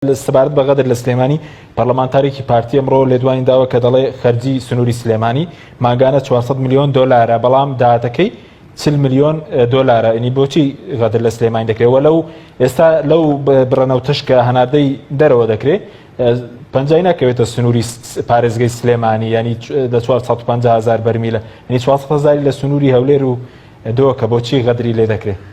سەبارەت بە غەدر لە سلێمانی پەرلەمانتارێکی پارتی ئەمڕۆ لێدوانی داوە کە دەڵێ خەرجی سنووری سلێمانی ماگانە 400 میلیۆن دۆلارە بەڵام داهاتەکەی چل میلیۆن دۆلارە ئینی بۆچی غەدر لە سلێمانی دەکرێتەوە لەو ئێستا لەو بڕەنەو تشکە هەناردەی دەرەوە دەکرێت پنجای ناکەوێتە سنووری پارێزگەی سلێمانی ینی لە 450 هزار بەرمیلە ینی 400 هزاری لە سنووری هەولێر و دۆکە بۆچی غەدری لێ دەکرێت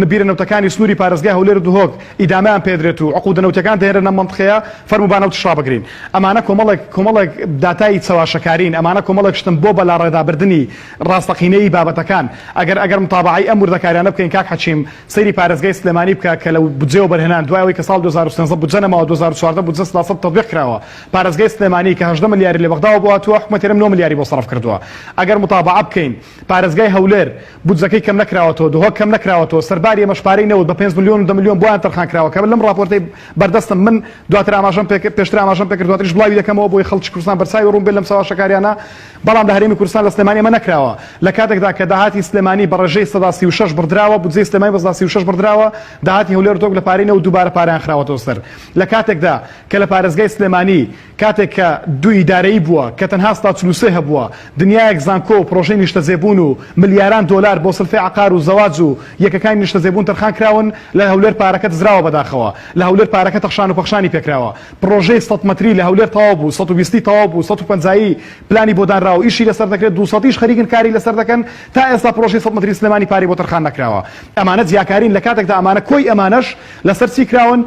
نبیرە نەوتەکانی سنووری پارێزگای هەولێر و دهۆک ئیدامەیان پێدرێت و عقودە نەوتییەکان دەهێنرێن ئەم مەنتقەیە، فەرموو با نەوتیش ڕابگرین. ئەمانە کۆمەڵێک کۆمەڵێک داتای چەواشەکارین، ئەمانە کۆمەڵێک شتن بۆ بەلاڕێدابردنی ڕاستەقینەیی بابەتەکان. ئەگەر ئەگەر متابەعەی ئەم وردەکاریانە بکەین کاک حەکیم، سەیری پارێزگای سلێمانی بکە کە لە بودجەی وەبەرهێنان دوای ئەوەی کە ساڵ دوو هەزار و سێزدە بودجە نەماوە دوو هەزار و چواردە بودجە سەدا سەد تەتبیق کراوە. پارێزگای سلێمانی کە هەژدە ملیاری لە بەغداوە بۆ هاتووە، حکومەتی هەرێم نۆ ملیاری بۆ سەرف کردووە. ئەگەر متابەعە بکەین. پارێزگای هەولێر بودجەکەی کەمنەکراوەتەوە، دهۆک کەمنەکراوەتەوە، سەرباری ئەمەش پارەی نەوت بە پێنج ملیۆن و دە ملیۆن بۆیان تەرخانکراوە کە لەم ڕاپۆرتەی بەردەستم من دواتر ئاماژەم پێکرد پێشتر ئاماژەم پێکرد دواتریش بڵاوی دەکەمەوە بۆی خەڵکی کوردستان بەرچاوی ڕوون بێت لەم چەواشەکاریانە بەڵام لە هەرێمی کوردستان لە سلێمانی ئەمە نەکراوە لە کاتێکدا کە داهاتی سلێمانی بە ڕێژەی سەدا سی و شەش بڕدراوە بودجەی سلێمانی بە سەدا سی و شەش بڕدراوە داهاتی هەولێر و دهۆک لە پارەی نەوت دووبارە پارەیان خراوەتەوە سەر لە کاتێکدا کە لە پارێزگای سلێمانی کاتێک کە دوو ئیدارەیی بووە کە تەنها ستا چل و سێ هەبووە، دنیایەک زانکۆ و پرۆژەی نیشتەجێبوون و ملیاران دۆلار بۆ سلفی عەقار و زەواج و یەکەکانی نیشتەجێبوون تەرخان کراون، لە هەولێر پارەکە دزراوە بەداخەوە لە هەولێر پارەکە تەخشان و پەخشانی پێکراوە، پرۆژەی سەد مەتری لە هەولێر تەواو بوو، سەد و بیست ی تەواو بوو، سەد و پەنجا ی پلانی بۆ دانراوە ئیشی لەسەر دەکرێت، دوو سەد یش خەریکن کاری لەسەر دەکەن، تا ئێستا پرۆژەی سەد مەتری سلێمانی پارەی بۆ تەرخان نەکراوە، ئەمانە جیاکارین لە کاتێکدا ئەمانە کۆی ئەمانەش لەسەر چی کراون؟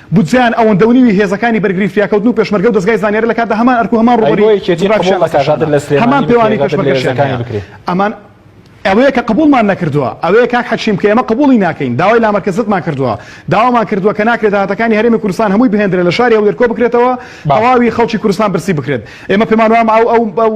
بودجەیان ئەوەندە و نیوی هێزەکانی بەرگری فریاکەوتن و پێشمەرگە و دەزگای زانیاری لە کاتدا هەمان ئەرک و هەمان ڕووبەری جوگرافیشیان لەسەر شانە هەمان پێوانی پێشمەرگەشیان هەیە ئەمان ئەوەیە کە قبوڵمان نەکردووە ئەوەیە کاک حەکیم کە ئێمە قبوڵی ناکەین داوای لامەرکەزتمان کردووە داوامان کردووە کە ناکرێت داهاتەکانی هەرێمی کوردستان هەمووی بهێندرێت لە شاری هەولێر کۆبکرێتەوە تەواوی خەڵکی کوردستان برسی بکرێت ئێمە پێمان وایە ئەو ئەو ئەو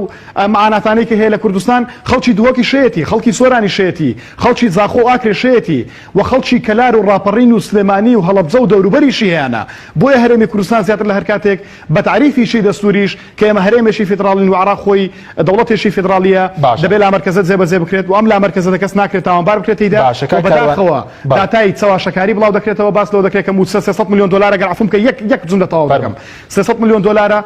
معاناتانەی کە هەیە لە کوردستان خەڵکی دهۆکیشێتی خەڵکی سۆرانیشێتی خەڵکی زاخۆ و ئاکرێشێتی و خەڵکی کەلار و ڕاپەڕین و سلێمانی و هەڵەبجە و دەوروبەریشی هەیانە، بۆیە هەرێمی کوردستان زیاتر لە هەر کاتێک بە تەعریفی شی دەستووریش کە ئێمە هەرێمێکی فیدڕاڵین و عێراق خۆی دەوڵەتێکی فیدڕاڵییە، باشە. دەبێ لامەرکەزە جێبەجێ بکرێت و ئەم لامەرکەزەتە کەس ناکرێت تاوانبار بکرێت تێیدا باشە کاک و کاروان. بەداخەوە بەڵێ. داتای چەواشەکاری بڵاو دەکرێتەوە، باس لەوە دەکرێت کە مووچە سێ سەد ملیۆن دۆلارە گەر عەفوم کە یەک یەک جوملە تەواو دەکەم فەرموو. سێ سەد ملیۆن دۆلارە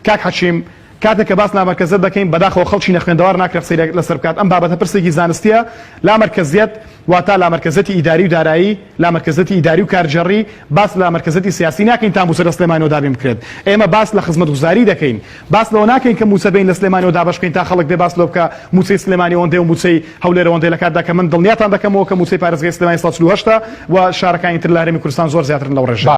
کاک حەکیم، کاتێک کە باس لە لامەرکەزیەت دەکەین بەداخەوە خەڵکی نەخوێندەوار ناکرێت قسەی لەسەر بکات ئەم بابەتە پرسێکی زانستیە لامەرکەزیەت واتا لامەرکەزیەتی ئیداری و دارایی لامەرکەزیەتی ئیداری و کارگێڕی باس لە لامەرکەزیەتی سیاسی ناکەین تا موچە لە سلێمانیەوە دابین بکرێت ئێمە باس لە خزمەتگوزاری دەکەین باس لەوە ناکەین کە موچە بین لە سلێمانیەوە دابەش بکەین تا خەڵک بێ باس لەوە بکە موچەی سلێمانی ئەوەندەیە و موچەی هەولێر ئەوەندەیە لە کاتدا کە من دڵنیاتان دەکەمەوە کە موچەی پارێزگای سلێمانی سەد و چل و هەشت ە و شارەکانی تر لە هەرێمی کوردستان زۆر زیاترن لەو ڕێژەیە.